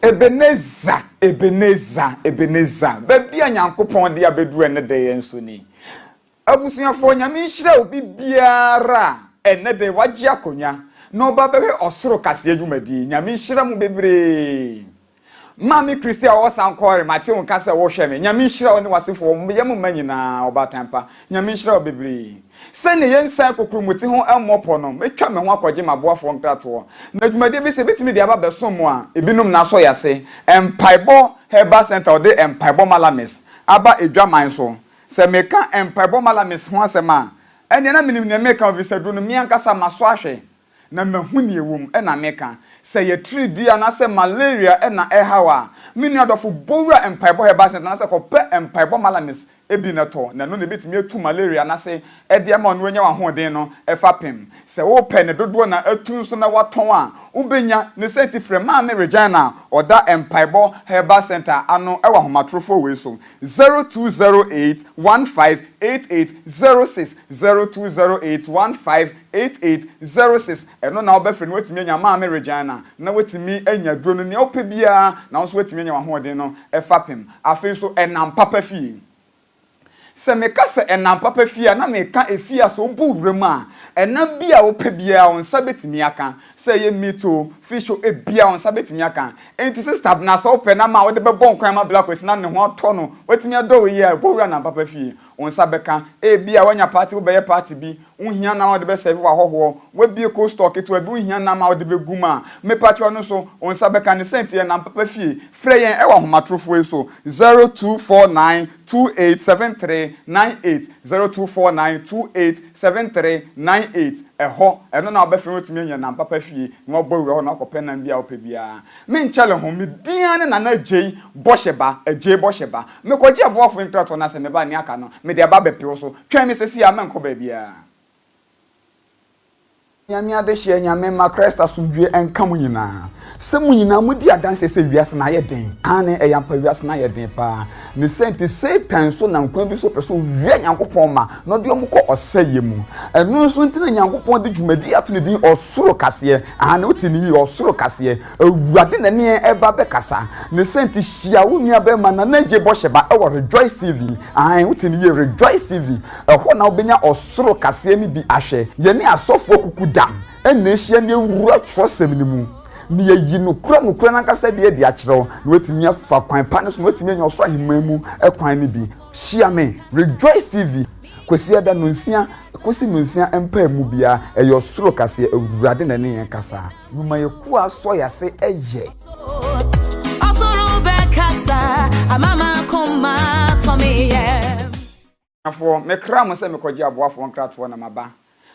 Ebenezer, Ebenezer, Ebenezer, baabi a Nyankopɔn de abɛduru ɛnnɛ da yɛn nso ni. Abusuafoɔ, Nyame nhyira obi biara a ɛnnɛ da yi wagye akonwa na ɔba abɛhwɛ ɔsoro kaseɛ dwumadie. Nyame nhyira mo bebree. Maame Christie a ɔwɔ Sankore, mate wo nka sɛ wohwɛ me. Nyame nhyira wo ne w'asefoɔ, wo yam mma nyinaa, ɔbaatan pa. Nyame nhyira wo bebree. Sɛnea yɛn nsa kokuru mo ti ho mmɔ pɔ no, mɛtwa me ho akɔgye m'aboafoɔ nkratoɔ. Na dwumadie bi sɛ ɛbɛtumi de aba abɛsom mo a, ebinom na asɔ yɛn ase. Mpaebɔ Herbal Centre wɔde Mpaebɔ Malamis aba adwaman so. Sɛ meka Mpaebɔ Malamis ho asɛm a, ɛnneɛ na menim deɛ mereka, ɛfiri sɛ aduro no me ankasa masɔ ahwɛ. na mahu nea ɛwom na meka. Sɛ ɛyɛ atiridii anaasɛ malaria na ɛrehaw a, me nua dɔfo, bɔ wura Mpaebɔ Herbal Center anaasɛ kɔpɛ mpaebɔ malanes bi na tɔ, na ɛno na ebetumi atu malaria anaasɛ ɛde ama wo na woanya w'ahoɔden no fapem. Sɛ wopɛ ne dodoɔ na atu nso na woatɔn a, wobɛnya. Ne saa nti, frɛ Maame Regina a ɔda Mpaebɔ Herbal Center ano wɔ ahomatorofoɔ wei so, 0208 15 88 06, 0208 15 Eight eight zero six Ɛno na wobɛfrɛ na woatumi anya Maame Regina na woatumi anya duro no, nea wopɛ biara na wo nso woatumi anya w'ahoɔden no fapem. Afei nso ɛnam papa fie. Sɛ meka sɛ ɛnam papa fie a, na meka efie a sɛ wobɔ wura mu a, ɛnam bi a wopɛ biara wo nsa bɛtumi aka. Sɛ ɛyɛ meat o, fish o, ebiara wo nsa bɛtumi aka. Enti Sista Abena, sɛ wopɛ nam a wode bɛbɔ nkwan ama Blackwoods na ne ho atɔ no, watumi adɔ wo yie a, bɔ wura ɛnam papa fie. Wo nsa bɛka. Ebia woanya party, wobɛyɛ party bi, wonhia nam a wode bɛ serve w'ahɔhoɔ, woabue cold store ketewa bi, wonhia nam a wode bɛgu mu a, mepakyɛw ɛno nso, wo nsa bɛka. Ne sɛnti yɛ nam papa fie. Frɛ yɛn ɛwɔ ahomatorofoɔ yi so, 0249287398, 0249287398, ɛhɔ, ɛno na wobɛfrɛ na woatumi anya nam papa fie na woabɔ awura hɔ na woakɔpɛ nam biara a wopɛ biara. Me nkyɛle ho, me din ara ne Nana Agyei Bɔhyɛba, Agyei Bɔhyɛba. Mekɔgye aboafoɔ nkratoɔ no ara sɛ meba nea aka no, mede aba abɛpe wo so. Twɛn me seesei ara, mɛnkɔ baabiara. Nyame adehyeɛ, Nyame mma Christ asomdwoeɛ nka mo nyinaa. Sɛ mo nyinaa modi adanseɛ sɛ wiase no ayɛ den, aane, ɛyɛ ampa wiase no ayɛ den paa. Ne sɛ nti Satan nso nam kwan bi so pɛ sɛ owia Nyankopɔn mma na ɔde wɔn kɔ ɔsɛeɛ mu. Ɛno nso nti na Nyankopɔn de dwumadie ato ne din Ɔsoro Kaseɛ. Aane, wote no yie, Ɔsoro Kaseɛ. Awurade na ɛne yɛn reba abɛkasa. Ne sɛ nti hyia wo nuabarima Nana Adjei Bɔhyɛba wɔ Rejoice TV. Aane, wote no yie, Rejoice TV. Ɛhɔ na wobɛnya Ɔsoro Kaseɛ no bi ahwɛ. Yɛne asɔfoɔ kuku dam. ɛna ahyia ne awura twerɛsɛm no mu na yɛyi nokorɛ nokorɛ no ankasa deɛ adi akyerɛ wo na watumi afa kwan pa no so na watumi anya ɔsoro ahemman mu kwan no bi hyia me rejoice tv kwasi ɛda no nsia kɔsi no nsia mpaa mu biara ɛyɛ ɔsoro kaseɛ awurade na ɛne yɛn kasa numa yɛ kuo asɔ yɛ ase ɛyɛ ɔsoro bɛkasa amama koma tɔmeyɛ Abusuafoɔ, mekraa mo sɛ mekɔgye aboafoɔ nkratoɔ na maba.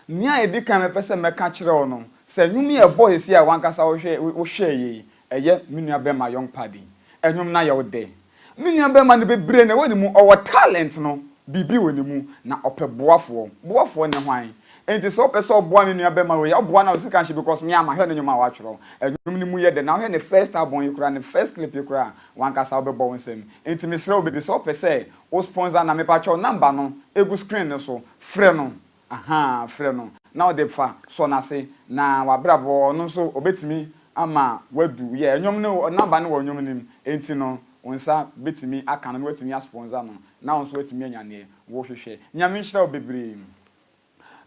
Nea ɛdi kan a mepɛ sɛ mɛka kyerɛ wo no, sɛ nnwom yi a ɛbɔɔ seesei a w'ankasa wohwɛeɛ yi, ɛyɛ me nuabarima Young Paddy. Nnwom no ayɛ wo dɛ. Me nuabarima no bebree na ɛwɔ ne mu, ɔwɔ talent no, biribi wɔ ne mu, na ɔpɛ boafoɔ. Boafoɔ ne hwan? Enti sɛ wopɛ sɛ woboa me nuabarima wei a, woboa no a wo sika nhyɛ because me ara mahwɛ ne nnwom a watwerɛ. Nnwom no mu yɛ dɛ na wohwɛ ne first album yi koraa, ne first clip yi koraa a, w'ankasa wobɛbɔ wo nsam. Enti mesrɛ wo baby, sɛ wopɛ sɛ Wo sponsor na mepakyɛw number no egu screen no so frɛ no ahaa frɛ no na ɔde fa sɔ nase na wabrabɔ ɔno nso ɔbɛtumi ama wadu yɛ ɛnwom no number no wɔ nnwom no mu enti no wo nsa bɛtumi aka no na watumi a sponsor no na wo nso watumi anya neɛ wo hwehwɛ Nyame nhyira wo bebree.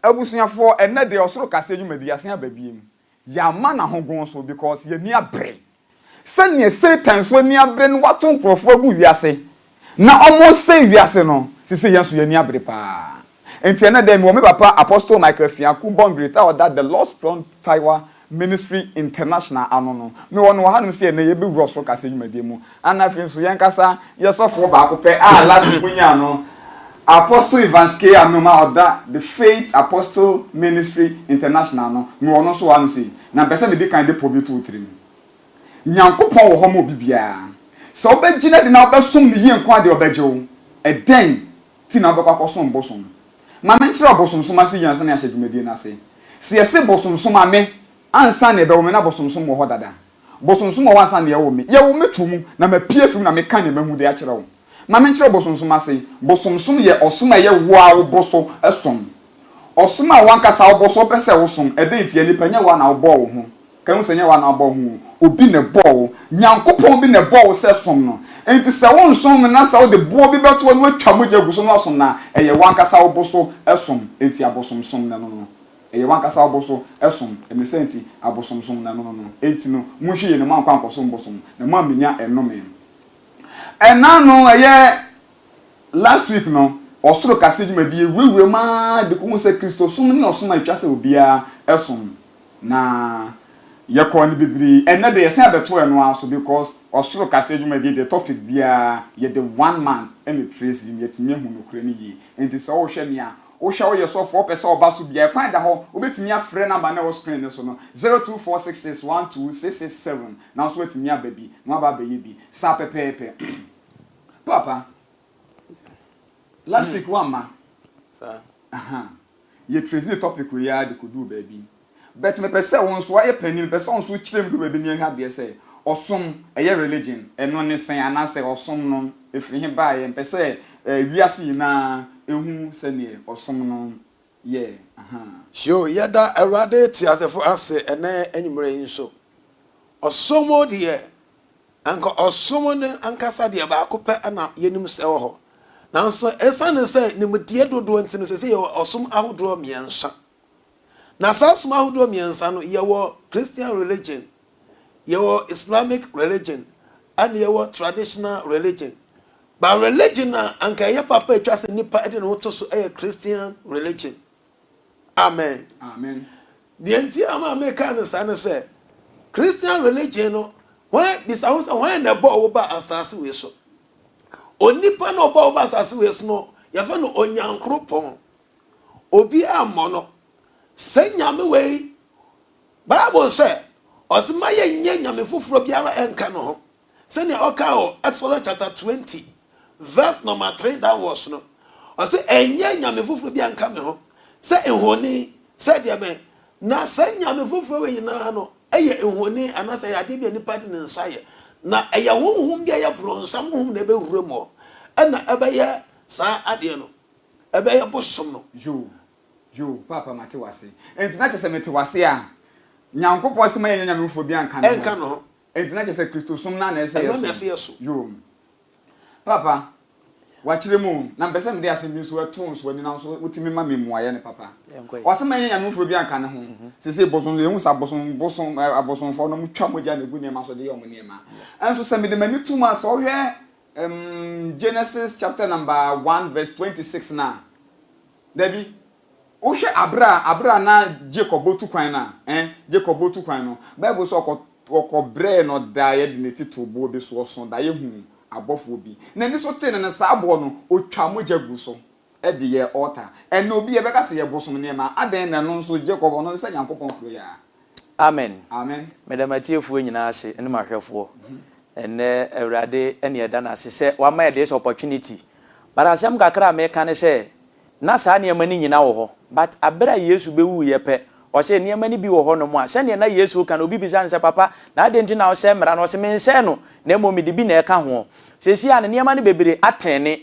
Abusuafoɔ ɛnnɛ deɛ ɔsoro kaseɛ dwumadi yɛasen aba biom yɛama no ahogoɔ nso because yɛnni abere sɛdeɛ satan nso anni abere no wato nkorɔfoɔ agu wiase na wɔresɛe wiase no seisei yɛn nso yɛnni abere paa enti ɛnnɛ dɛn mewɔ me papa Apostle Michael Afiaku Bongrate a ɔda The Lost Pond Taiwa Ministry International ano no. Mewɔ no wɔ hanom sɛ ɛnnɛ yɛbɛwura Soro Kaseɛ dwumadie mu. Ana afei nso yɛnkasa yɛ sɔfoɔ baako pɛ a last week mo nyaa no, Apostle Evans K. Anum a ɔda The Faith Apostle Ministry International ano. Mewɔ no nso wɔ hanom sei. Na mpɛ sɛ medi kan de pɔ bi to wo tirim. Nyankopɔn wɔ hɔ ma obi biara. Sɛ wobɛgyina de na wobɛsom no yie nko ara deɛ ɔbɛgye wo. Ɛdɛn nti na wobɛkɔ akɔsom bosom? Ma menkyerɛ wo bosonsom ase yie ansa na yɛahyɛ dwumadie no ase. Sɛ yɛse bosonsom a, me ansa na yɛbɛwo me na bosonsom wɔ hɔ dada. Bosonsom wɔ hɔ ansa na yɛwo me. Yɛwo me to mu na mapue afiri mu na meka deɛ mahu de akyerɛ wo. Ma menkyerɛ wo bosonsom ase. Bosonsom yɛ ɔsom a ɛyɛ wo ara wobɔ so som. Ɔsom a w'ankasa wobɔ so wopɛ sɛ wosom. Ɛdɛn ntia? Nipa nyɛ wo ara na wobɔɔ wo ho. Kahu sɛ nyɛ woana ɔbɔɔ ho o, obi na ɛbɔɔ wo, Nyankopɔn bi na ɛbɔɔ wo sɛ som no, enti sɛ wonsom me na sɛ wode boɔ bi bɛto hɔ na watwa mogya agu so na wasom no a, ɛyɛ wankasa wobo so som, enti abosomsom na ɛno no, ɛyɛ wankasa wobo so som, ɛne saa nti abosomsom na ɛno no no, enti no monhwɛ yie na moankɔ ankɔsom bosom na moammɛnya ɛnome. Ɛna no ɛyɛ Last week no, Ɔsoro Kaseɛ dwumadie wurawura mu ara de kɔhuu sɛ Kristosom ne ɔsom a ɛtwa sɛ obiara som na yɛkɔɔ no bebree. Ɛnnɛ deɛ yɛsan abɛto ɛno ara so because Ɔsoro Kaseɛ dwumadie deɛ topic biara yɛde one month na ɛtrace mu, yɛtumi ahu nokorɛ no yie. Enti sɛ wohwɛ me a, wohwɛ a woyɛ sɔfoɔ wopɛ sɛ ɔba so biara ɛkwan da hɔ, wobɛtumi afrɛ number no a ɛwɔ screen no so no, zero two four six six one two six six seven, na wo nso woatumi aba bi na woaba abɛyɛ bi saa pɛpɛɛpɛ. Paapa last week wamma ahaa yɛ trazy topic wei aa de kɔduu baabi but mepɛ sɛ wo nso wayɛ panin mepɛ sɛ wo nso wokyerɛm duru baabi ne yɛnhwɛ adeɛ sɛ ɔsom ɛyɛ religion ɛno ne sɛn anaasɛ ɔsom no ɛfiri he baeɛ mpɛ sɛ eh, wiase nyinaa ɛhu sɛdeɛ ɔsom no yɛ ahaa. Yoo, yɛda Awurade teasefo ase ɛnnɛ anwummere yi nso. Ɔsom deɛ, anka ɔsom no ankasa deɛ baako pɛ na yɛnim sɛ ɛwɔ hɔ. Nanso ɛsiane sɛ nimdeɛ dodoɔ nti no, seesei yɛwɔ ɔsom ahodoɔ mmiɛnsa. Na saa som ahodoɔ mmiɛnsa no, yɛwɔ Christian religion, yɛwɔ Islamic religion, ɛnna yɛwɔ traditional religion. Ba religion a anka ɛyɛ papa a ɛtwa sɛ nnipa de ne ho to so yɛ Christian religion. Amen. Amen. Deɛ nti ama a meka no saa ne sɛ, Christian religion no, hwan bisa ho sɛ hwan na ɛbɔɔ wo ba asase wei so? Onipa na ɔbɔɔ wo ba asase wei so no, yɛfrɛ no Onyankoropɔn. Obi ammɔ no. Sɛ Nyame wei, Bible sɛ, ɔse ma yɛnyɛ nyame foforɔ biara nka ne ho. sɛnea ɔkaa wɔ Exodus chapter twenty verse number three downwards no, ɔsɛ ɛnyɛ nyame foforɔ bi anka me ho sɛ nhoni sɛ deɛ bɛn na saa nyame foforɔ wɔ nyinaa no ɛyɛ nhoni anaasɛ ɛyɛ adeɛ bi a nipa de ne nsa yɛ na ɛyɛ honhom bi a ɛyɛ borɔnsam honhom na ɛbɛwura mu ɛna ɛbɛyɛ saa adeɛ no ɛbɛyɛ bosom no. Yo, yo, paapa mate wase. Enti na kyerɛ sɛ mete wase a Nyankopɔn se ma yɛnyɛ nyame foforɔ bi anka ne ho. Ɛnka ne ho. Enti na kyerɛ sɛ Kristosom no ara na ɛsɛ sɛ yɛsom? Ɛno na ɛsɛ sɛ yɛsom. Yoo. Papa, wɔakyerɛ mu o, na mepɛ sɛ mede asɛm bi nso to nso ani na nso wotumi ma me mmuaeɛ no, papa. Yɛnkɔ. Ɔse mɛyɛ nyame foforɔ bi anka ne ho. Seesei bosom, yɛhu sɛ abosom, bosom, ɛ, abosomfoɔ no, wɔtwa mogya na ɛgu nneɛma so de yɛ wɔn nneɛma. Nso sɛ mede m'ani to mu a, sɛ wohwɛ, ɛm, Genesis chapter number one verse twenty six no a, dabi, Wohwɛ aber a aber a na Jacob botu kwan no a, eh, Jacob botu kwan no, Bible se ɔkɔ ɔkɔbrɛɛ no daeɛ de ne titiriw boɔ bi so, ɔsõ daeɛ huu abɔfoɔ bi, n'ani so tee no, na saa aboɔ no, ɔtwaa mogya guu so de yɛɛ altar. Ɛnnɛ obi yɛbɛka se yɛbosom nneɛma a, adɛn na ɛno nso Jacob, ɔno nso sɛ Nyankopɔn kroyɛa? Amen. Amen. Meda m'atiefoɔ nyinaa ase ne m'ahwɛfoɔ. Ɛnnɛ Awurade na yɛda no ase sɛ wama yɛn this opportunity. But asɛm kakra a meka ne sɛ, na saa nneɛma no nyina wɔ hɔ but aber a Yesu bewuiɛ pɛ, ɔse nneɛma no bi wɔ hɔ nom a sɛdeɛ na Yesu reka no obi bisa no sɛ papa na adɛn nti na wosɛe mmara no ɔse mensɛe no na mmom mede bi na ɛka hoɔ. Seesei a no nneɛma no bebree atɛne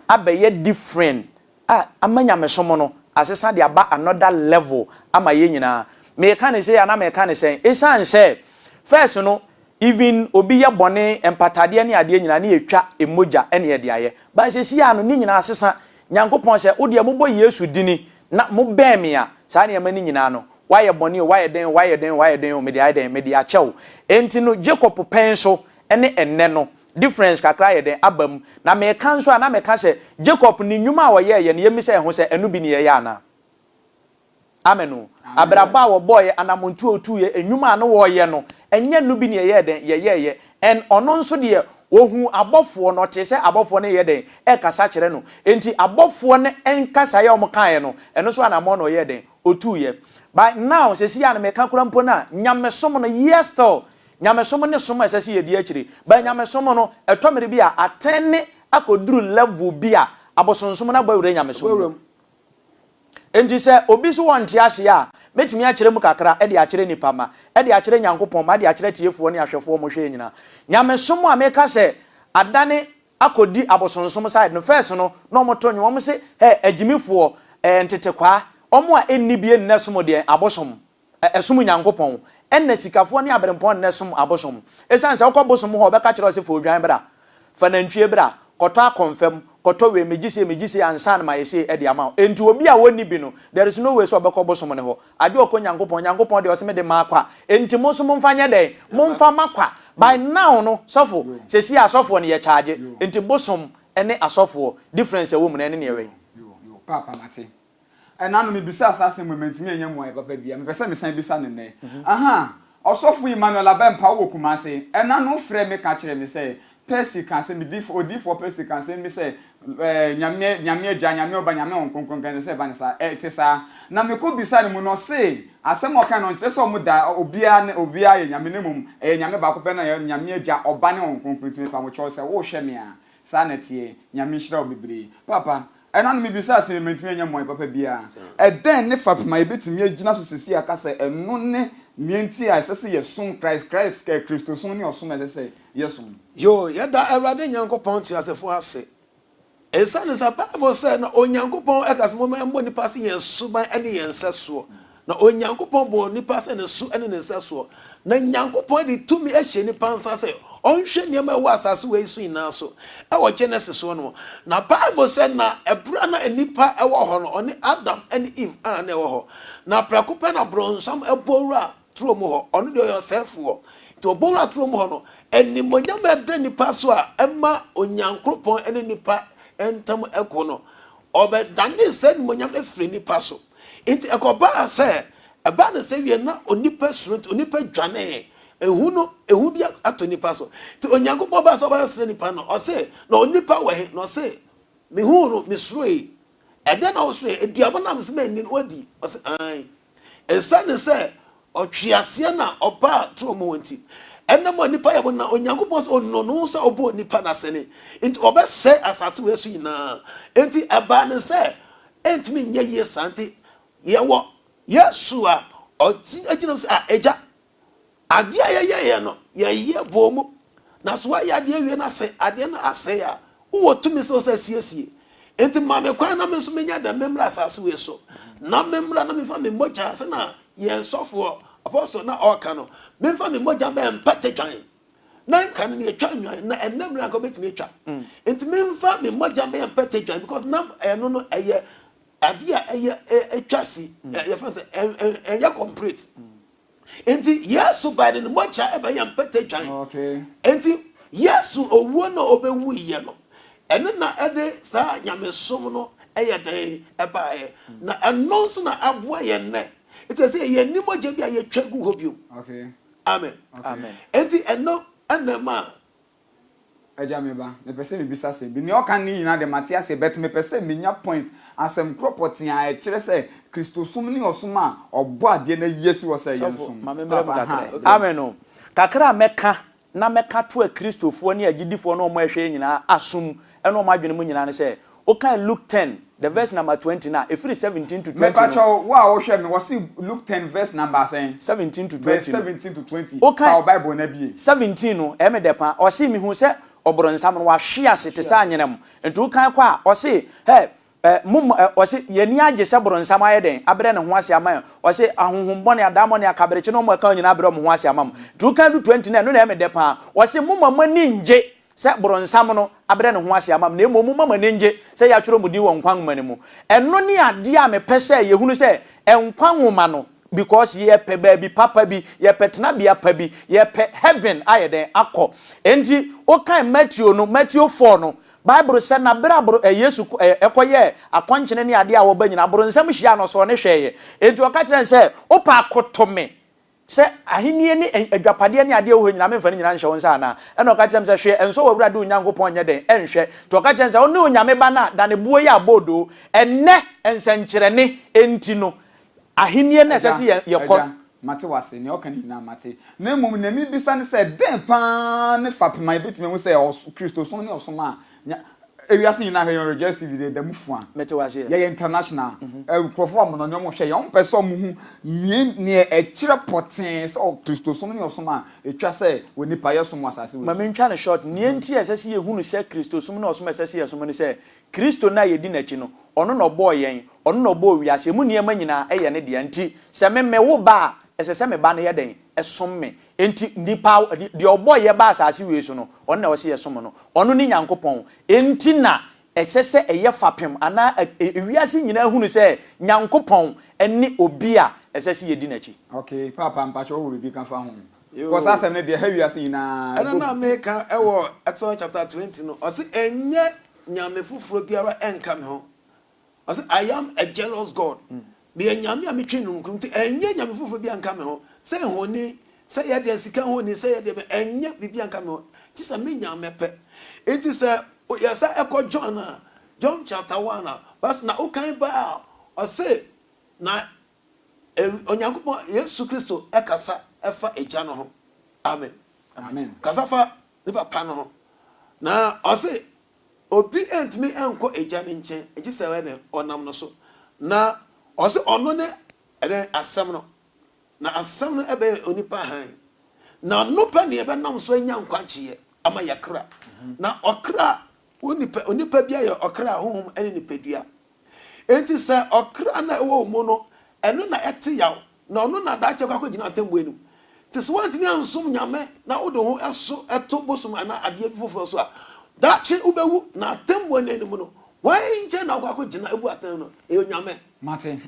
abɛyɛ different a ama nyamesom no asesa de aba another level ama yɛn nyinaa. Meka no sei a na meka no sɛn? Esiane sɛ first no Even obi yɛ bɔne, mpatadeɛ ne adeɛ nyinaa ne yɛtwa mogya ne yɛde ayɛ. But seesei ara no ne nyinaa asesa. Nyankopɔn sɛ, wo deɛ mobɔ Yesu dini na mobɛn me a, saa nneɛma no nyinaa no, woayɛ bɔne o, woayɛ dɛn o, woayɛ dɛn o, woayɛ dɛn o, mede ayɛ dɛn? Mede akyɛ wo. Enti no Jacob pɛn so ne ɛnnɛ no, difference kakra ayɛ dɛn? Aba mu. Na meka nso a, na meka sɛ, Jacob ne nnwuma a ɔyɛeɛ no, yɛmmisa yɛn ho sɛ, ɛno bi ne yɛyɛ anaa? Amen o. Abrabɔ a wɔbɔɔeɛ, anamɔntu a wɔtuuiɛ, nnwuma a na wɔreyɛ no, ɛnyɛ no bi na yɛyɛɛ dɛn? Yɛyɛeɛ. Ɛn, ɔno nso deɛ, ɔhuu abɔfoɔ no, ɔtee sɛ abɔfoɔ no reyɛ dɛn? Rekasa kyerɛ no. Enti abɔfoɔ no nkasaeɛ a wɔkaeɛ no, ɛno nso anamɔn na ɔyɛɛ dɛn? Ɔtuuiɛ. But now, seesei a na meka koraa mpo no a, nyamesom no, yes still, nyamesom ne som a ɛsɛ sɛ yɛdi akyire. But nyamesom no, ɛtɔ mmere bi a, atɛne akɔduru level bi a, abosonsom no abɔ awura nyamesom mu. Enti sɛ obi so ɔnte aseɛ a, mɛtumi akyerɛ mu kakra de akyerɛ nnipa ma de akyerɛ Nyankopɔn ma de akyerɛ atiefoɔ ne ahwɛfoɔ a wɔhwɛ yɛn nyinaa. Nyamesom a meka sɛ adane akɔdi abosonsom side no, first no na wɔto nnwom, wɔse hɛ agyimifoɔ, ɛɛ ntetekwaa, wɔn a ɛnnibie nnɛ som deɛn? Abosom. ɛsom Nyankopɔn, ɛna sikafoɔ ne aberempɔn na ɛsom abosom. Ɛsiane sɛ wokɔ bosom hɔ a, wɔbɛka kyerɛ wo sɛ, Fa odwan bra, fa nantwie bra, kɔtɔ akɔmfam, kɔtɔ wei, megye sei, megye sei ansa na mayɛ sei de ama wo. Enti obi a ɔnni bi no, there is no way sɛ ɔbɛkɔ bosom no hɔ. Agye ɔkɔ Nyankopɔn, Nyankopɔn deɛ ɔse mede maa kwa, enti mo nso momfa nyɛ dɛn? Momfa mma kwa. By now no, sɔfo, sesie asɔfoɔ no, yɛcharge. Enti bosom ne asɔfoɔ, difference a ɛwɔ mu no, ɛne nea ɛwɛn. Ɛnanom, mibisaa saa asɛm wei, mantumi annya mmuae papa biara. Mepɛ sɛ mesan bisa no nnɛ. Aha! Ɔsɔfo Emmanuel Abɛmpa wɔ Kumasi. Ɛna no frɛɛ me ka kyerɛɛ me sɛ, Percy ka asɛm bi, dif, Odiyifoɔ Percy ka asɛm bi sɛ, ɛɛ, Nyame, Nyame Agya, Nyame Ɔba, Nyame Honhom Kronkron nka sɛ ɛba ne saa. Ɛ, ɛte saa. Na mekɔ bisaa no mu no, ɔse, Asɛm a ɔkae no, ɔnkyerɛ sɛ wɔn da, obiara ne, obiara yɛ Nyame, na mmom, ɛyɛ Nyame baako pɛ no a ɛyɛ Nyame Agya, Ɔba ne Honhom Kronkron. Nti mepɛ a mo kyɛw sɛ, wohwɛ me a, Saa na ɛteɛ. Nyame nhyira wo bebree. Paapa, ɛna no mebisaa se mantumi anyɛ mmuae papa biara. Ɛdɛn ne fapem a yɛbɛtumi agyina so seesei aka sɛ ɛno ne nea enti a ɛsɛ sɛ yɛsom Christ, Christ, Kristosom ne ɔsom a ɛsɛ sɛ yɛsom? Yoo, yɛda Awurade Nyankopɔn teasefo ase esiane sɛ Bible sɛ na Onyankopɔn ka sɛ momma yɛmmɔ nnipa se yɛn suban ne yɛn nsɛsoɔ. Na Onyankopɔn bɔɔ onipa sɛ ne so ne ne nsɛsoɔ, na Nyankopɔn de tumi ahyɛ nipa nsa sɛ ɔnhwɛ nneɛma a ɛwɔ asaase wei so nyinaa so wɔ Genesis hɔ no. Na Bible sɛ na ɛberɛ a na nnipa wɔ hɔ no, ɔne Adam ne Eve ara na ɛwɔ hɔ. Na prɛko pɛ na bronsam bɔ wura turo mu hɔ, ɔno deɛ ɔyɛ ɔsɛefoɔ. Nti ɔbɔ wura turo mu hɔ no, animuonyam a ɛda nipa so a ɛma Onyankropɔn ne nipa ntam ko no, ɔbɛdanee saa animuonyam no firii nipa so. Enti ɛkɔbaa sɛ ɛbaa no sɛ wiɛ na onipa suro nti onipa dwanee, ehu no, ehu bi ato nnipa so. Nti Onyankopɔn baa sɛ ɔbɛsrɛ nnipa no, ɔse, na onipa wɔ he? Na ɔse, mehuu no, mesuroe. Ɛdeɛn na wosuroe? Aduaba no a mese manni no, woadi? Ɔse, aane, esiane sɛ Ɔtweaseɛ na ɔbaa turo mu nti ɛnam a nnipa yɛ bɔne na Onyankopɔn sɛ ɔnunuu sɛ ɔbɔɔ nnipa no asɛne nti ɔbɛsɛe asase wei so nyinaa nti ɛbaa no sɛ ɛntumi nyɛ yie saa nti yɛwɔ Yesu a ɔgyina mu sɛ a Agya adeɛ a yɛyɛeɛ no yɛyɛ bɔɔ mu Na sɛ woayɛ adeɛ awie na sɛ adeɛ no asɛe a, wowɔ tumi sɛ wosan siesie. Enti ma me kwan na me nso menyɛ dɛn? Memmra asase wei so na memmra na memfa me mogya, sɛnea yɛn sɔfoɔ, apostle no a ɔreka no, memfa me mogya mmɛyɛ mpata twan. Na nka no yɛtwa nnwan, na ɛnnɛ mmerɛ anka wobɛtumi atwa. Enti memfa me mogya mmɛyɛ mpata twan because na ɛno no ɛyɛ adeɛ a ɛyɛ ɛtwa si, yɛfrɛ no sɛ ɛyɛ complete. Enti Yesu bae de ne mogya bɛyɛ mpata dwan. Enti Yesu owuo no a ɔbɛwuiɛ no, ɛno na ɛde saa nyamesom no yɛ dɛn baeɛ. Na ɛno nso na aboa yɛn nnɛ. Nti ɛsɛ sɛ yɛnni mogya bi a yɛtwa gu hɔ bio. Amen. Enti ɛno na ɛma Agya me ba, mepɛ sɛ mebisa sɛ bi. Nea ɔka no nyinaa de mate aseɛ but mepɛ sɛ menya point, asɛm korɔ pɔtee a ɛkyerɛ sɛ Kristosom ne ɔsom a Ɔbɔadeɛ no ayi asi hɔ sɛ yɛnsom no. Papa, aha, brɛ me. Amen o. Kakra a mɛka na mɛka atoa Kristofoɔ ne agyidifoɔ ne wɔn a ɛhwɛ yɛn nyinaa asom ne wɔn adwene mu nyinaa ne sɛ, Wokan Luke ten the verse number twenty no a, ɛfiri seventeen to twenty no. Mepa kyɛw, wo a wohwɛ me, wɔse Luke ten verse number sɛn? Seventeen to twenty no. Verse seventeen to twenty, fa wo Bible no abie. Seventeen no, ɛyɛ me dɛ pa ara. Ɔse, Mehuu sɛ ɔbronsam no, wahwe ase te sɛ anyenam. Nti wokan kɔ a, ɔse, Hɛ! Ɛɛ, mo mma, ɛɛ, ɔse, yɛn ani agye sɛ bronsam ayɛ dɛn? Abrɛ ne ho ase ama yɛn. Ɔse, Ahonhom bɔne, adaemone, akaberekye ne wɔn a ɛka wɔn nyinaa abrɛ wɔn ho ase ama mo. Nti wokan du twenty no a, ɛno na ɛyɛ me dɛ pa ara. Ɔse, Momma mo ani nnye sɛ boronsam no abrɛ ne ho ase ama me, na mmom momma mo ani nnye sɛ yɛatwerɛ mo din wɔ nkwa nwoma no mu. Ɛno ne adeɛ a mepɛ sɛ yɛhunu sɛ nkwa nwoma no, because yɛpɛ baabi papa bi, yɛpɛ tenabea pa bi, yɛpɛ heaven ayɛ dɛn? akɔ. Enti wokan Mateo no, Mateo four no, Bible sɛ na berɛ a Yesu kɔyɛɛ akɔnkyene ne adeɛ a wɔba nyinaa, boronsam hyiaa no, ɔsɔɔ no hwɛeɛ. Enti ɔka kyerɛɛ no sɛ, wopɛ akoto me, Sɛ, Ahenni ne agyapadeɛ ne adeɛ a ɛwɔ hɔ nyinaa, memfa ne nyinaa nhyɛ wo nsa anaa? Ɛnna ɔka kyerɛɛ me sɛ, Hwɛ, ɛnsɔ w'Awurade wo Nyankopɔn nyɛ dɛn nhwɛ. Nti ɔka kyerɛɛ no sɛ, Wone onyame ba no a, dane boɔ yi abɔ odoo. Ɛnnɛ, nsɛnkyerɛnne enti no, Ahenni no na ɛsɛ sɛ yɛkɔ. Agya, agya, mate w'ase, nea woka no nyinaa mate. Na mmom nea merebisa ne sɛ, dɛn paa ne fapem a yɛbɛtumi ahu sɛ Kristosom ne ɔsom a Nya ewiase nyinaa hwɛ yɛn rejoice tv deɛ ɛda mu fua Mete wo aseɛ. yɛyɛ international ɛ nkurɔfoɔ a mmonɔnyɛ wɔn hwɛ yɛn wɔn pɛ sɛ wɔn hu nea nea ɛkyerɛ pɔtee sɛ ɔ kristosom ne ɔsom a ɛtwa sɛ wɔ nipa yɛ som wɔ asase wei Ma so. mentwa no short, nea nti a ɛsɛ sɛ yɛhunu sɛ kristosom ne ɔsom a ɛsɛ sɛ yɛsom ne sɛ Kristo no a yɛdi n'akyi no ɔno na ɔbɔɔ yɛn, ɔno na ɔbɔɔ wiase, ɛmu nneɛma nyinaa yɛ ne dea nti sɛ me me wo ba a ɛsɛ sɛ me ba no yɛ dɛn? Som me, Enti nnipa, deɛ ɔbɔɔ yɛ baa asase wei so no, ɔno na ɔsɛ yɛsom no. Ɔno ne Nyankopɔn. Enti na ɛsɛ sɛ ɛyɛ fapem anaa ewiase nyinaa hunu sɛ Nyankopɔn ne obi a ɛsɛ sɛ yɛdi n'akyi. Ok paapa mpakyɛ wowɔ biribi ka fa ho because asɛm no deɛ ɛha wiase nyinaa ɛbɔ gu. Ɛna na meka wɔ Exodus chapter twenty no ɔse ɛnyɛ Nyame foforɔ biara nka me ho. Ɔse I am a jealous God, meyɛ Nyame a metwe nunkurum nti ɛnyɛ Nyame foforɔ biara nka me ho, sɛ nhoni, sɛ yɛ deɛn, sika nhoni, sɛ yɛ deɛn, ɛnyɛ biribiara nka me ho, gye sɛ me Nyame pɛ. Nti sɛ yɛ sa ɛkɔ John a, John chapter one a, bas na wokan ba a, ɔse na Onyankopɔn, Yesu Kristo ɛkasa ɛfa Agya no ho, amen, kasa fa ne Papa no ho, na ɔse Obi ntumi nkɔ Agya no nkyɛn gye sɛ ɛdɛn ɔnam no so. Na ɔse ɔno ne ɛdɛn Asɛm no, na Asɛm no ɛbɛyɛ onipa hann, na no pɛ na yɛbɛnam so anya nkwagyeɛ ama yɛn kra. Na ɔkra, onipa, onipa biara yɛ ɔkra, honhom ne nipadua. Enti sɛ ɔkra no a ɛwɔ wo mu no, ɛno na ɛte yaw, na ɔno na daakye ɛkɔ akɔgyina atemmu anim. Enti sɛ woantumi ansom Nyame na wode wo ho so to bosom anaa adeɛ bi foforɔ so a, daakye wobɛwu, na atemmu no anim no, hwan nkyɛn na wokɔ akɔgyina abu atɛn no? Ɛyɛ Onyame. Mate.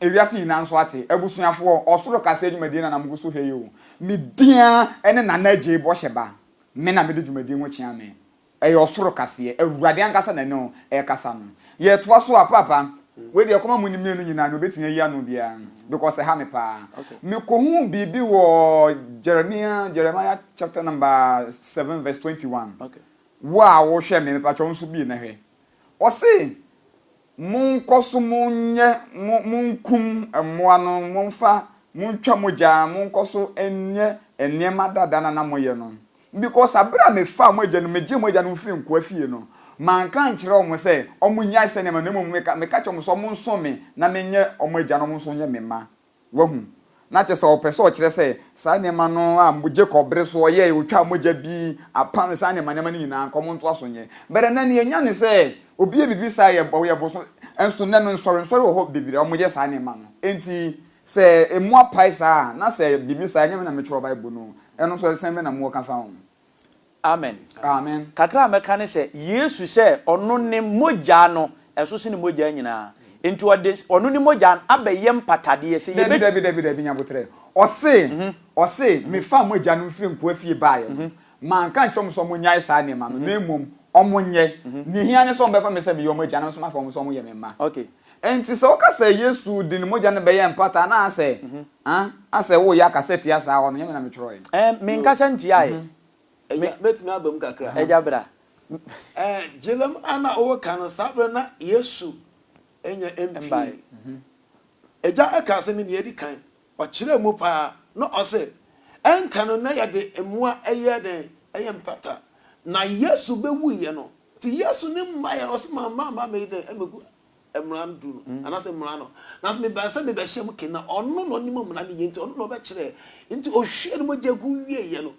Ewiase nyinaa nso ate. Abusuafoɔ, ɔsoro kasa adwumadie no na mogu so hwɛ yi o. Me din ara ne Nana Agyei Bɔhyɛba. Me na mede dwumadie ho kyea me. Ɛyɛ ɔsoro kaseɛ, Awurade ankasa na ɛne wo ɛrekasa no. Yɛtoa so a, Paapa, wei deɛ kɔma mo ne mmienu nyinaa nea ɔbɛtumi ayi ano biara, because ɛha me paa. Mekɔhuu biribi wɔ Jeremia, Jeremiah chapter number seven verse twenty one. Wo a wohwɛ me, mepakyɛ wo nso bue na hwɛ. Ɔse, Monkɔ so monyɛ mo monkum mmoa no, momfa montwa mogya, monkɔ so nyɛ nneɛma dada no a na moyɛ no. Because bere a mefaa mo agyanom, migyee mo agyanom fii nkoa fie no, manka ankyerɛ wɔn sɛ wɔnnyae saa nneɛma no, na mmom meka kyerɛɛ wɔn sɛ wɔnsom me na menyɛ wɔn agya na wɔn nso nyɛ me mma. Wahu? Ná kyerɛ sɛ ɔpɛ sɛ ɔkyerɛ sɛ saa nneɛma no a Jacob bere so ɔyɛe, otwaa mogya bi, apam, saa nneɛma nneɛma no nyinaa, anka wɔntoa so nyɛ. But ɛnnɛ nea yɛanya ne sɛ, obi yɛ biribi saa a, ɔyɛ bosom. Nso nnɛ no, nsɔrensɔre wɔ hɔ bebree a wɔyɛ saa nneɛma no. Enti, sɛ mmoa pae saa a, na sɛ biribi saa a, ɛnyɛ me na mekyerɛw Bible no o. Ɛno nso, ɛsɛn me na mowɔ ka fa ho. Amen. Amen. Kakra a mɛka ne sɛ, Yesu sɛ ɔno ne mogya no, ɛso sene mogya nyinaa. Enti ɔde ɔno ne mogya no abɛyɛ mpatadeɛ sɛ yɛbɛ. Dabi, dabi, dabi, Nyaboterɛ. Ɔse, ɔse, Mefaa mo agya no mfiri nkoa fie baeɛ no, manka ankyerɛ wɔn sɛ wɔnnyae saa nneɛma no, na mmom wɔnyɛ. Nea ehia ne sɛ wɔbɛfa me sɛ meyɛ wɔn agya, na me nso mafa wɔn sɛ wɔyɛ me mma. Okay. Enti sɛ woka sɛ Yesu de ne mogya no bɛyɛ mpata anaasɛ ah asɛ woreyɛ akasa tia saa hɔ no, ɛnyɛ me na metwerɛeɛ. Ɛɛ, menkasa ntiaeɛ. Agya, mɛtumi aba mu kakra? Agya, bra. Ɛɛ, Gyilem a na woreka no, saa berɛ no na Yesu nyɛ MP. Agya kaa sɛ me deɛ ɛdi kan. Ɔkyerɛɛ mu paa na ɔse, Ɛnka no na yɛde mmoa yɛ dɛn? Ɛyɛ mpata. Na Yesu bɛwuiɛ no, nti Yesu ne mmaeɛ no ɔse, Mamma mma meyi dɛn? Mmɛgu mmara no duru no, anaasɛ mmara no. Nanso mebaeɛ sɛ mebɛhyɛ mo ke, na ɔno na ɔnim mmara no yie, nti ɔno na ɔbɛkyerɛ. Nti ɔhwiee ne mogya gu wieeɛ no,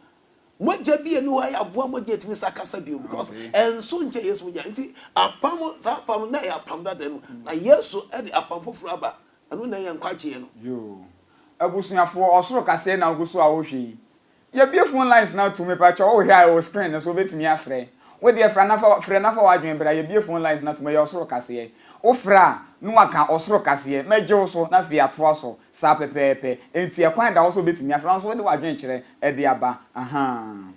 mogya bi a ɛni hɔ a ɛyɛ aboa mogya a ɛtumi sa kasa bio, because ɛnso nkyɛn Yesu mogya. Nti apam, saa apam no na ɛyɛ apam dada no mu, na Yesu de apam foforɔ aba. Ɛno na ɛyɛ nkwagyeɛ no. Yoo abusuafoɔ ɔsoro kasɛɛ na wogu so a wohwɛ yi yɛbue phone lines no atom mepakyɛw wohwɛ a ɛwɔ screen no so wobɛtumi afrɛ wodeɛ fra na fa frɛ na fa w'adwene bra yɛbue phone lines no atom ɛyɛ ɔsoro kaseɛ wofrɛ a na waka ɔsoro kaseɛ mɛgye wo so na afei atoa so saa pɛpɛɛpɛ enti ɛkwan da hɔ sɛ wobɛtumi afrɛ nanso wode w'adwene kyerɛ ɛde aba ahaa.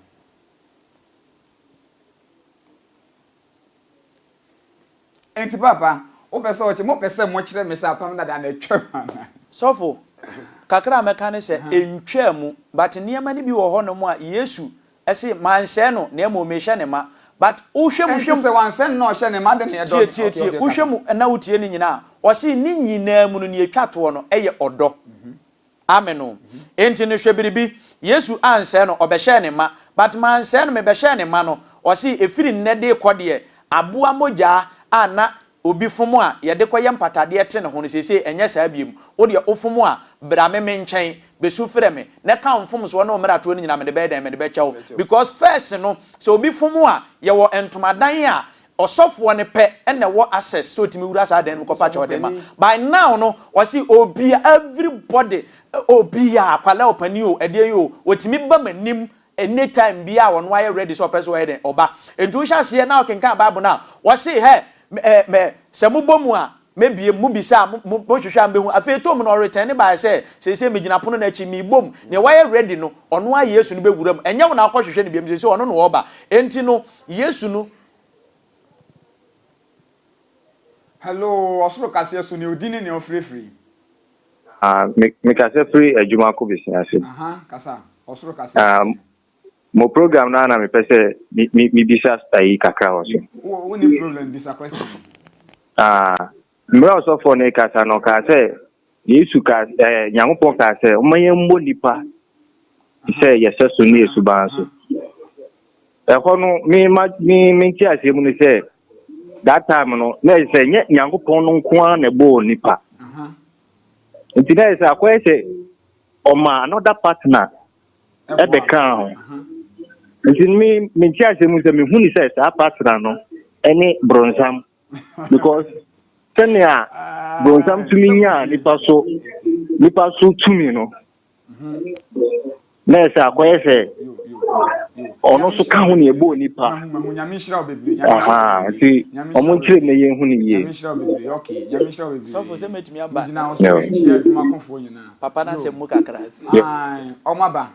Enti Paapa, wopɛ sɛ ɔkye, mopɛ sɛ mokyerɛ me sɛ Apam Dada no atwam anaa? Sɔfo, kakra a mɛka ne sɛ, ɛntwaa mu, but nneɛma no bi wɔ hɔ nom a Yesu se, Mansɛe no, na mmom mehyɛ ne ma. But wohwɛ mu, hwɛ mu. Ɛnti sɛ wansɛe no na ɔhyɛ ne ma de, na ɛdɔ no. Tie, tie, tie, wohwɛ mu na wotie ne nyinaa a, ɔse ne nyinaa mu no, nea ɛtwa toɔ no yɛ ɔdɔ. Amen o. Enti no hwɛ biribi, Yesu ansɛe no, ɔbɛhyɛɛ ne ma. But mansɛe no, mebɛhyɛɛ ne ma no. Ɔse, ɛfiri nnɛ de rekɔ deɛ, aboa mogyaa a na obi fom a yɛde kɔyɛ mpatadeɛ te ne ho no, seesei ɛnyɛ saa biom. Wo deɛ wofom a, bra me me nkyɛn, bɛsu frɛ me, na ɛka wo mfomsoɔ ne wo mmaratoɔ no nyinaa, mede bɛyɛ dɛn? Mede bɛkyɛ wo. Because first no, sɛ obi fom a, yɛwɔ ntomadan a Ɔsɔfoɔ no pɛ na ɛwɔ access sɛ ɔtumi wura saa dan no mu kɔpa kyɛw de ma. By now no, ɔse obia, everybody, obia, akwadaa o, panin o, ɛdeɛn yi o, ɔtumi ba m'anim anytime biaa ɔno ayɛ ready sɛ ɔpɛ sɛ ɔyɛ dɛn, ɔba. Nti wohyɛ aseɛ na wokenkan Bible no a, ɔse hɛ, me, me, sɛ mobɔ mu a, Mebue, mobisa a, mohwehwɛ a mubehu. Afei ɛtɔɔ mu no, ɔretɛne baeɛ sɛ, Seesei megyina pono no akyi, merebɔ mu. Nea wayɛ ready no, ɔno ara Yesu no bɛwura mu. Ɛnyɛ wo na wokɔhwehwɛ no biom, seesei ɔno na ɔreba. Enti no, Yesu no. Hello, ɔsoro kaseɛ so, nea ɔdi ne nea ɔfrɛ firi. Ah, me, mekasa firi adwuma kɔ bɛsi ase. Aha, kasa, ɔsoro kaseɛ so. Ah, Mo program no ana mepɛ sɛ mebisa ayi kakra wɔ so. Wo ne problem bisa question. Ah, mmerɛ ɔsɔfoɔ no kasa no kaa sɛ Yesu ka eh, Nyankopɔn kaa sɛ ɔma yɛn mmɔ nipa sɛ yɛsɛ so ne esuban so. Ɛhɔ no me ma me me nti aseɛ mu no sɛ that time no na ɛsɛ sɛ nyɛ Nyankopɔn no nko ara na ɛbɔɔ nipa. Nti na ɛsɛ akɔyɛ sɛ ɔma another partner. ɛbɛkaa ho. Nti me me nti ase mu sɛ mehu ne sɛ saa partner no ɛne bronsam because sɛnea bronsam tumi nyaa nipa so nipa so tumi no na ɛsɛ akɔyɛ sɛ ɔno nso ka ho ne ɛbɔɔ nipa nti ɔmo nkyerɛ mu na yɛhu ne yie. Papa no asɛm mu kakra. Ae, wɔaba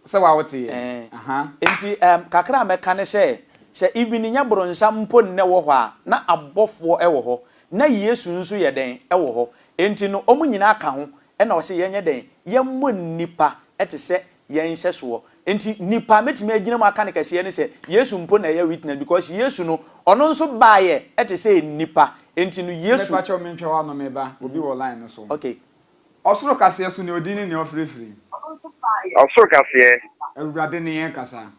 sɛ wawo te yɛn. Aha. Enti ɛɛm, kakra a mɛka ne sɛ, sɛ even nyɛ bronsam mpo nnɛ wɔ hɔ a, na abɔfoɔ wɔ hɔ, na Yesu nso yɛ dɛn? Wɔ hɔ. Enti no, wɔn nyinaa ka ho, ɛna ɔse yɛnyɛ dɛn? Yɛmmɔ nnipa te sɛ yɛn nhyɛsoɔ. Enti nipa a mɛtumi agyina mu aka no kɛseɛ ne sɛ, Yesu mpo na ɛyɛ witness because Yesu no, ɔno nso baeɛ te sɛ nnipa. Enti no, Yesu. Mepa kyɛw mentwa w'ano, me ba, obi wɔ line no so. Okay. Ɔsoro kaseɛ so nea ɔdin ne nea ɔfirefiri. Ɔsoro kaseɛ. Awurade ne yɛn kasa.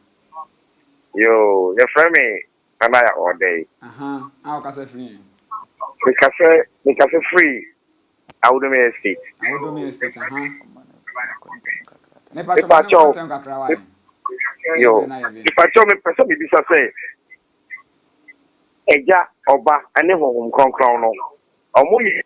Yoo, yɛfrɛ me Nanaya Ɔɔdɛe. Aha, a ɔkasa firi yɛn. Mekasa, mekasa firi Awodomia Estate. Awodomia Estate, aha. Mepa kyɛw, ma ne nkɔntɛm kakra wa yɛn. Yoo, mepa kyɛw, mepɛ sɛ mebisa sɛ, Agya, Ɔba, ne Honhom Kronkron no, Wɔyɛ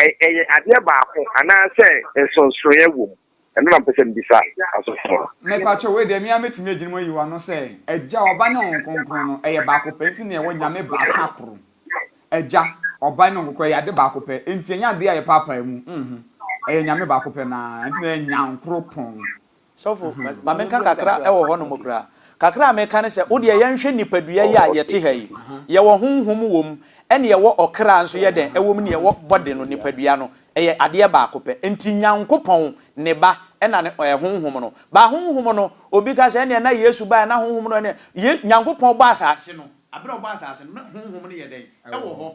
ɛ ɛyɛ adeɛ baako anaa sɛ nsonsonɛ wɔ mu? Ɛno na mepɛ sɛ mebisa asɔfo no. Me pa kyɛw, wei deɛ me ara mɛtumi agyina mu ayi wo ano sɛ, Agya, Ɔba ne Honhom Kronkron no, ɛyɛ baako pɛ, nti na yɛwɔ Nyame baasa koro. Agya, Ɔba ne Honhom Kronkron, ɛyɛ ade baako pɛ, nti ɛnyɛ adeɛ a yɛpaapae mu, mho, ɛyɛ Nyame baako pɛ no ara, nti na ɛyɛ Nyankropɔn. Sɔfo, ma menka kakra wɔ hɔnom koraa. Kakra a meka ne sɛ, wo deɛ yɛnhwɛ nnipadua yi a yɛte ha yi. Yɛwɔ honhom wom, ɛne yɛwɔ ɔkra nso yɛ dɛn wom ne yɛwɔ body no, nipadua no. Ɛyɛ adeɛ baako pɛ. Nti Nyankopɔn, Ne Ba, ɛna ne ɛ, honhom no. Ba honhom no, obi ka sɛ, ɛneɛ na Yesu baeɛ, na honhom no, ɛneɛ, Ye, Nyankopɔn bɔ asase no, aberɛ a ɔbɔ asase no, na honhom no yɛ dɛn? Ɛwɔ hɔ.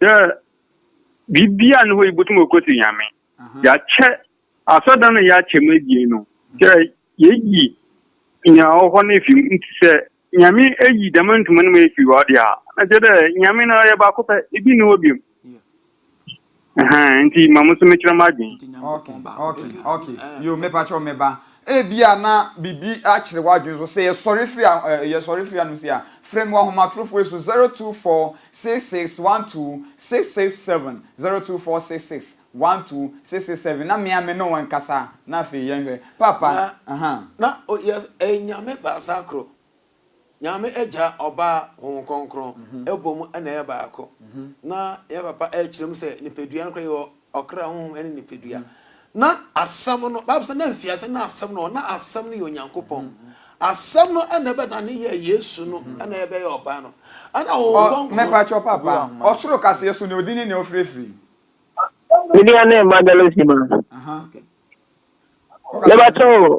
Dɛ biribiara nnyi hɔ a ibotum ekotse Nyame. Yɛakyɛ asɔrdan no a yɛakyɛ mu ebien no, dɛ yeyi nyia ɔwɔ hɔ no efi mu. Ntsi sɛ Nyame eyi dɛm ntoma no mu efi hɔ dze a, na kyerɛ dɛ Nyame no ɔyɛ baako pɛ, bi nnyi hɔ bio. Ntsi ma mo so mekyerɛ m'adwen. Ebia na biribi akyere w'adwene so. Sɛ yɛsɔre firi ha, eh, yɛsɔre firi hanom sei a, frɛ me wɔ ahomatorofo yi so, 024 6612 667, 024 6612 667, na me ara me ne wo nkasa, na afei yɛnhwɛ. Paapa, Na, aha. na o, yɛ, ɛyɛ nyame baasa koro. Nyame Agya, Ɔba, Honhom Kronkron bɔ mu na ɛyɛ baako. Na yɛn papa kyerɛ mu sɛ nipadua no koraa yɛ ɔkra, honhom ne nipadua. Na Asɛm no, Bible sɛ na mfiase na Asɛm no wɔ hɔ, na Asɛm no yɛ Onyankopɔn. Asɛm no na ɛbɛdane yɛɛ Yesu no na ɛbɛyɛɛ Ɔba no. Ɛna Honhom Kronkron. Me pakyɛ wo papa, ɔsoro kaseɛ so nea ɔdi ne nea ɔfiri firi. Media ne Magalosi ma. Mebakyɛ wo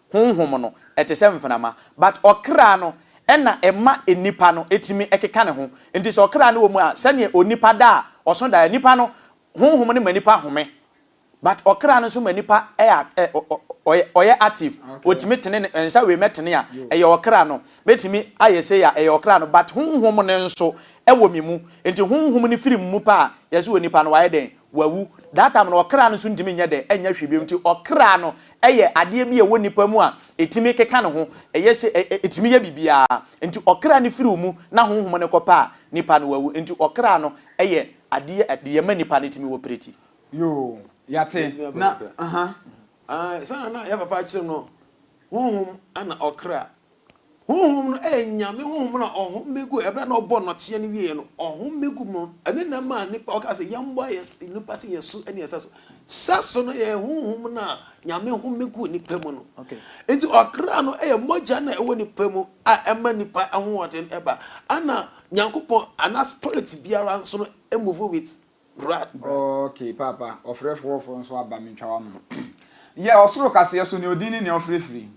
Honhom no, ɛte sɛ mfenama. But ɔkra no, ɛna ɛma nnipa no tumi keka ne ho. Nti sɛ ɔkra no wɔ mu a, sɛdeɛ onipa da a, ɔso da a, nnipa no, honhom no ma nnipa home. But ɔkra no nso ma nnipa ɛyɛ, ɛ, ɔ, ɔ, ɔyɛ, ɔyɛ active. Ɔtumi tene ne nsa wei mɛtene a, ɛyɛ ɔkra no. Mɛtumi ayɛ sei a, ɛyɛ ɔkra no. But honhom no nso, ɛwɔ me mu. Nti honhom no firi me mu pɛ a, yɛse onipa no, wayɛ dɛn? Wawu. That time no, ɔkra no nso ntumi nyɛ dɛn? Ɛnyɛ hwee bio. Nti ɔkra no, yɛ adeɛ bi a ɛwɔ nipa mu a ɛtumi keka ne ho, ɛyɛ sɛ ɛ, ɛ, ɛtumi yɛ biribiara. Enti ɔkra no firi wo mu na honhom no kɔpɛ a, nipa no awu. Enti ɔkra no yɛ adeɛ a deɛ ɛma nipa no tumi wɔ preti. Yoo, yɛate. Yɛtumi aba Na, mu koraa. aha. Ae, sɛnea na yɛn papa akyerɛ mu no, honhom na ɔkra. Honhom no yɛ Nyame honhom na ɔhome gu ɛberɛ a na ɔbɔ nnɔteɛ no wieɛ no ɔhome gu mu no ɛno na ɛmaa nnipa ɔkaa sɛ yɛmmɔ yɛ nnipa sɛ yɛsu ne yɛ sɛso sɛso no yɛ honhom no a Nyame home gu nnipa mu no nti ɔkra no yɛ mogya no a ɛwɔ nnipa mu a ɛma nnipa ahoɔden ɛba ɛna Nyankopɔn anaa spirit biara nso no move with breath. Ok paapa ɔfrɛfoɔ foforɔ nso aba mentwa w'ano yɛ ɔsoro kaseɛ so nea ɔdin ne nea ɔfrɛ firi.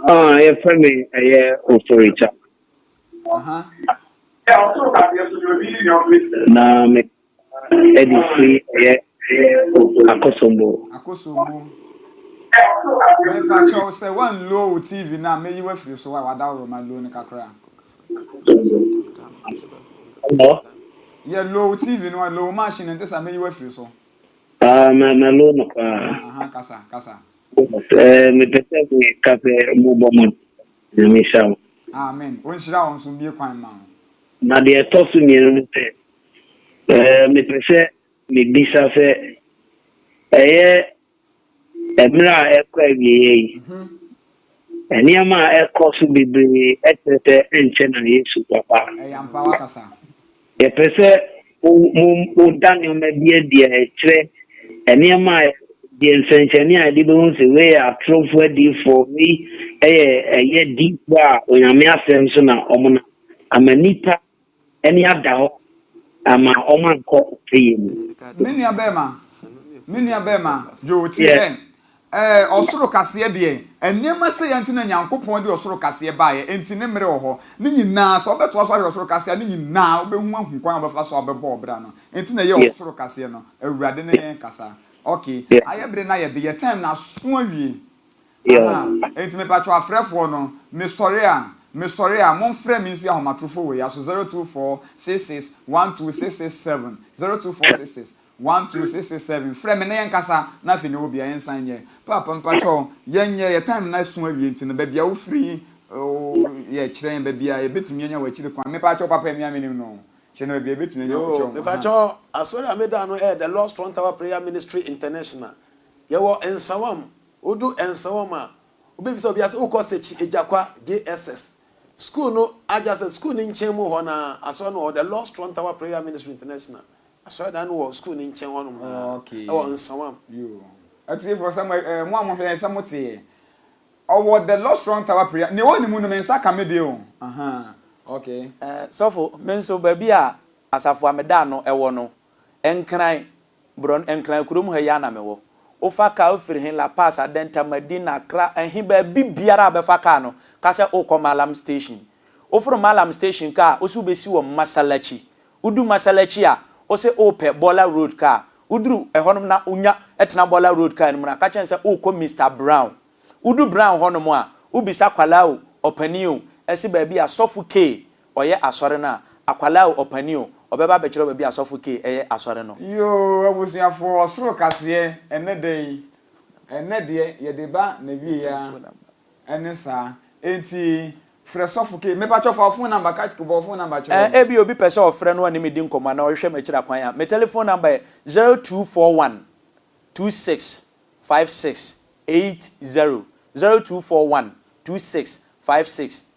Ah, yɛ fɛ mi ɛyɛ oforicha. Na me ɛdi si ɛyɛ akosombo. Akosombo. Me pa kyɛw sɛ wan low wo TV na me yi wafiri so wa wada ɔrɔ ma low ne kakra. Hello. Yɛ low TV no low machine ne ntesa me yi wafiri so. Ah, na na low no pa. Aha, kasa, kasa. Sɛ mepɛ sɛ meka sɛ mobɔ mmɔden. Nyame nhyira wo. Amen. Onhyira wo nso mmue kwan mma wo. Na deɛ ɛtɔ so mmienu ne sɛ, mepɛ sɛ mebisa sɛ, ɛyɛ mmerɛ a ɛrekɔ awieɛ yi, nneɛma a ɛrekɔ so bebree kyerɛ sɛ ɛnkyɛ na Yesu bɛba? Ɛyɛ ampa, woakasa. Yɛpɛ sɛ woda nneɛma bi adi a ɛkyerɛ nneɛma a yɛ nsɛnkyerɛnne a yɛde bɛhu sɛ wei yɛ atorofo adiyifo, wei yɛ ɛyɛ adiyifo a Onyame asɛm so na wɔnam, ama nnipa ani ada hɔ ama wɔankɔ ɔpɛyɛ mu. Me nua bɛɛma, me nua bɛɛma Joe, tie dɛn? Ɛɛ, ɔsoro kaseɛ deɛ, nneɛma sɛeɛ nti na Nyankopɔn de ɔsoro kaseɛ baeɛ, enti ne mmere wɔ hɔ. Ne nyinaa, sɛ wobɛtoa so ahwɛ ɔsoro kaseɛ a, ne nyinaa wobɛhu ahu kwan a wobɛfa so a wobɛbɔ ɔbra no. Enti na ɛyɛ Yes. ɔsoro kaseɛ no, Awurade ne yɛn kasa. Ok, Yeah. ayɛ bere na yɛde yɛ time no aso awie. Yeah. Aha, enti mepakyɛw afrɛfoɔ no, mesɔre a, mesɔre a, momfrɛ me nsi ahomatorofo wei aso, 0246612667, 0246612667. One two six six seven frɛ me na yɛn kasa na afei ne wɔ bia yɛn san nyɛ paapa mpakyɛ wo yɛn nyɛ yɛ time na so awie nti no bɛbia wo firi yɛ kyerɛ yɛn bɛbia yɛ bɛtumi anya wɔ akyiri kwan me pakyɛ wo papa ɛmia me nim no kyerɛ na bɛbia yɛ bɛtumi anya wɔ kyɛ wo me pakyɛ wo asɔre a me da no ɛyɛ the Lord's strong tower prayer ministry international yɛ wɔ nsawam wo du nsawam a wo bɛ bisa obi a sɛ wo kɔ sɛkyi agya-kwa JSS school no adjacent school no nkyɛn mu hɔ na asɔre no wɔ hɔ the Lord's strong tower prayer ministry international Asɔredan no wɔ sukuu no nkyɛn hɔnom a ɛwɔ Nsawam. Yoo. Atiefo, sɛ mo ɛɛ mo a mohwɛ yɛn sɛ mo te yɛ. Ɔwɔ the Lord Strong Tower Prayer, nea ɔwɔ ne mu no me nsa ka me deɛ o, ahaa, okay. Ɛɛ sɔfo, me nso baabi a Asafo a meda ano wɔ no, Nkran, Borɔn, Nkran kurom ha yi ara na mewɔ. Wofa car firi he, La Paz, Adenta, Medina, Accra, ɛhe, baabi biara a wobɛfa car no, ka sɛ worekɔ Mallam Station. Woforo Mallam Station car a, wo se wobɛsi wɔ Mmasalachi, Wodu Massalakyi a, wose worepɛ Bɔla Road kaa. Woduru hɔnom na wonya tena Bɔla Road kaa no mu na aka kyerɛ no sɛ worekɔ Mister Brown. Wodu Brown hɔnom a, wobisa akwadaa o, ɔpanin o, si baabi a Sɔfo K. ɔyɛ asɔre no a, akwadaa o, ɔpanin o, ɔbɛba abɛkyerɛ wo baabi a Sɔfo K. yɛ asɔre no. Yoo abusuafoɔ ɔsoro kaseɛ ɛnɛ da yi ɛnɛ deɛ yɛde ba n'awieɛ ara Ɛne saa. Enti frɛ sɔfo K. Mepakyɛw fa wo phone number ka bɔ wo phone number kyerɛ wɔn. Ebia obi pɛ sɛ ɔfrɛ na ɔne me di nkɔmmɔ anaa ɔhwehwɛ me akyiri akwan a, me telephone number yɛ zero two four one two six five six eight zero, zero two four one two six five six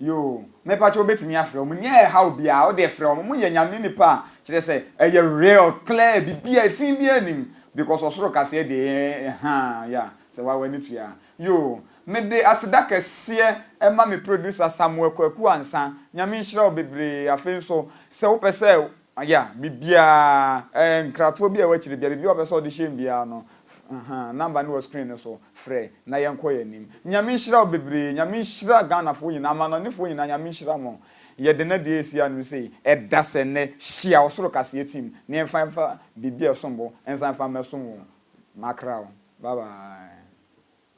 Yoo mepakyɛ wobɛtumi afrɛ wɔn nyɛ haw biaa wodeɛ frɛ wɔn wɔyɛ nyame nipa a kyerɛ sɛ ɛyɛ real clear bibia ɛfii biaa nnim because ɔsoro kaseɛ deɛ eeh haa yeah sɛ waa wani tua yoo mede aseda kɛseɛ ɛma me producer Samuel Kwaku Ansah nyame nhyira wo bebree afei nso sɛ wopɛ sɛ Aya, biribiara, ɛɛ, nkratoɔ bi a ɛwɔ akyire biara, biribiara a ɔpɛ sɛ ɔde hyɛ mu biara no, aha, number no wɔ screen no so, frɛ, na yɛnkɔ yɛn anim. Nyame nhyira wo bebree, Nyame nhyira Ghanafoɔ nyinaa, amanɔnefoɔ nyinaa, Nyame nhyira mo. Yɛde nna deɛ ɛresi anom sei, ɛda sɛ nnɛ, hyia ɔsoro kaseɛ team, na yɛmfa mfa biribi a ɛsom bo nsan mfa mmɛsom wo. Makra wo. Bye bye.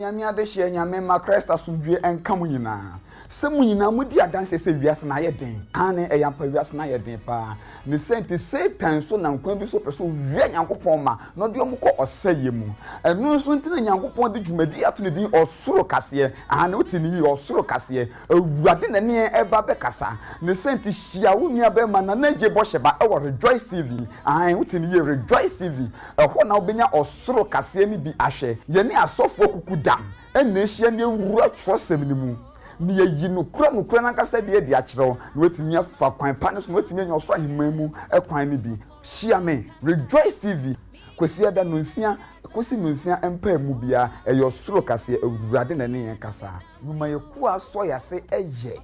Nyame adehyeɛ Nyame mma Christ asomdwoeɛ nka mo nyinaa Sɛ mo nyinaa mo di adanseɛ sɛ wiase no ayɛ den Aane ɛyɛ ampa wiase no ayɛ den paa Ne sɛ nti Satan nso nam kwan bi so pɛ sɛ owia Nyankopɔn mma na ɔde wɔn kɔ ɔsɛeɛ mu Ɛno nso nti na Nyankopɔn de dwumadie ato ne din Ɔsoro kaseɛ Aane wote no yie Ɔsoro kaseɛ Awurade na ɛneɛ ɛba bɛkasa ne sɛ nti hyia wo nua bɛɛma nana agye bɔhyɛ ba ɛwɔ rejoice TV aane wote ne yie rejoice TV ɛhɔ na wobɛnya ɔsoro kaseɛ no bi ahwɛ yɛne asɔfoɔ kuku dam ɛna ahyia ne awura twerɛsɛm no mu ne yɛyi nokora nokora no ankasa deɛ de akyerɛ wo na watumi afa kwan pa no so na watumi anya ɔsoro aheman mu kwan no bi hyia me rejoice TV Kwasiada nonsia kosi nonsia mpae mu biara ɛyɛ ɔsoro kaseɛ awurade na ɛne yɛn kasaa. Numa yɛ kuo a asɔ yase ɛyɛ.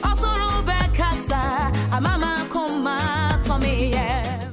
Ɔsoro bɛ kasa ama ma koma tɔ me yɛm.